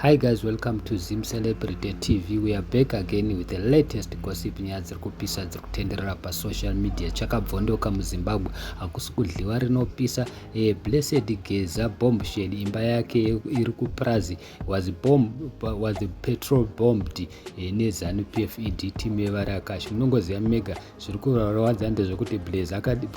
Hi guys, welcome to Zim Celebrity TV. We are back again with the latest gossip nyaya dziri kupisa dziri kutenderera pasocial media. Chakabvondoka muZimbabwe hakusi kudliwa rinopisa. E, Blessed Geza bombshell imba yake iri kupurazi was, bomb, was petrol bombed e, eh, neZanu PF ED team yevari akashi. Munongoziva mega zviri kurwadza ndezvekuti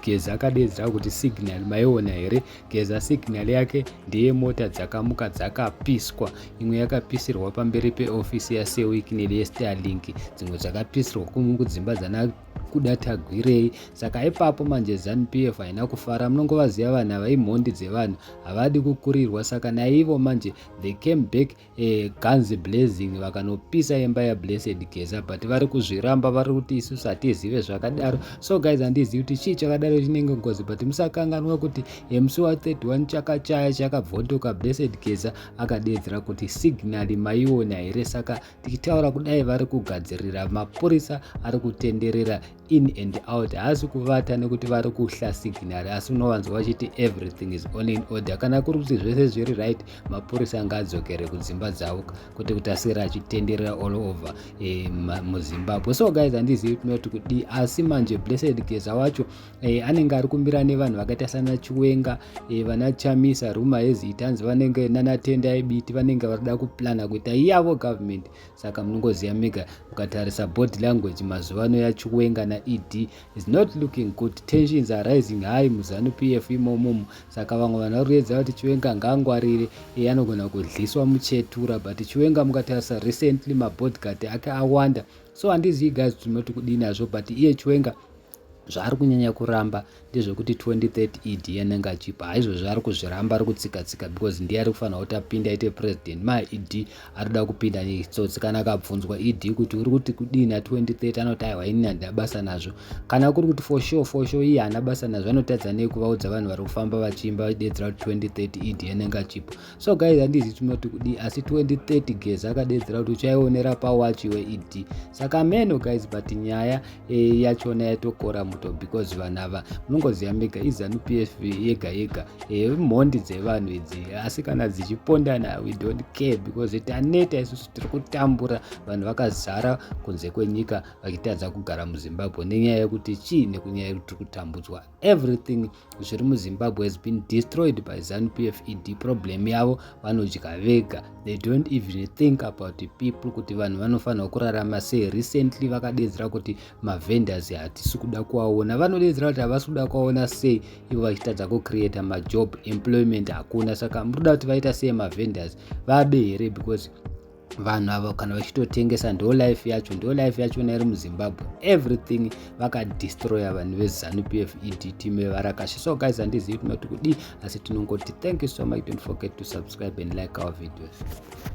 Geza akadeedzera kuti signal maiona here Geza signal yake ndeye mota dzakamuka dzakapiswa imwe yakapisirwa pamberi peofisi yasewic neliyestarlink dzimwe dzakapisirwa kudzimba dzana kuda tagwirei saka ipapo manje zanp f haina kufara munongovaziva vanhu ava imhondi dzevanhu havadi kukurirwa saka naivo manje they came back eh, guns blazing vakanopisa imba yablessed geza but vari kuzviramba vari kuti isusu hatizive zvakadaro so guys handizivi kuti chii chakadaro chinenge ngozi but musakanganwa kuti mc wa 31 chakachaya chakabvotoka blessed geza akadeedzera kuti signal maiona here saka tichitaura kudai vari kugadzirira mapurisa ari kutenderera in and out haasi kuvata nekuti vari kuhla signary asi unowanzwa vachiti everything is all in order kana kuri kuti zvese zviri right mapurisa anga adzokere kudzimba dzavo kuti kuti asiri achitenderera all over e, muzimbabwe so guys handizivi tinoti kudii asi manje blessed geza wacho e, anenge ari kumira nevanhu vakaita sana chiwenga e, vana chamisa ruma hezita hanzi vanenge nanatenda ebiti vanenge varikuda kuplana kuita iyavo government Saka munongoziva mega mukatarisa body language mazuva ano yachiwenga naED is not looking good. Tensions are rising high muZanu PF imomomo. Saka vamwe vanhu vari kuedza kuti Chiwenga ngaangwarire iye anogona kudliswa muchetura but Chiwenga mukatarisa recently mabodyguard ake awanda. So handizivi guys kuti munoti kudii nazvo but iye Chiwenga zvaari kunyanya kuramba ndezvekuti 2030 ed yanenge achipa haizvozvo ari kuzviramba ari kutsika tsika because ndiye ari kufanira kuti apinde aite president ma ed arikuda kupinda netsotsi kana akabvunzwa ed kuti uri kuti kudii na 2030 anoti aiwa ini handina basa nazvo kana kuri kuti for sure for sure iye haana basa nazvo anotadza nei kuvaudza vanhu vari kufamba vachiimba vachidedzera kuti 2030 ed yanenge achipa so guys handizi tinoti kudii asi 2030 geza akadedzera kuti uchaionera pawachi weed saka meno guys but nyaya e, yachona yatokora muto because vanhu ava munongoziva mega izanu psv yega yega e, mhondi dzevanhu idzi asi kana dzichipondana we don't care because taneta isusu tiri kutambura vanhu vakazara kunze kwenyika vachitadza kugara muzimbabwe nenyaya yekuti chii nekunyaya yekuti tiri kutambudzwa everything zviri muzimbabwe has been destroyed by zanupf ed problem yavo vanodya vega they don't even think about the people kuti vanhu vanofanirwa kurarama sei recently vakadedzera kuti mavendors hatisi kuda kuvaona vanodedzera kuti havasi kuda kuvaona sei ivo vachitadza kucreata majob employment hakuna saka murikuda kuti vaita sei mavendors vabe here because vanhu ava kana vachitotengesa ndo life yacho ndo life yacho nairi muzimbabwe everything vakadestroya vanhu vezanu p f ed team yevarakashi so guys handizivi tinoti kudii asi tinongoti thank you so much don't forget to subscribe and like our videos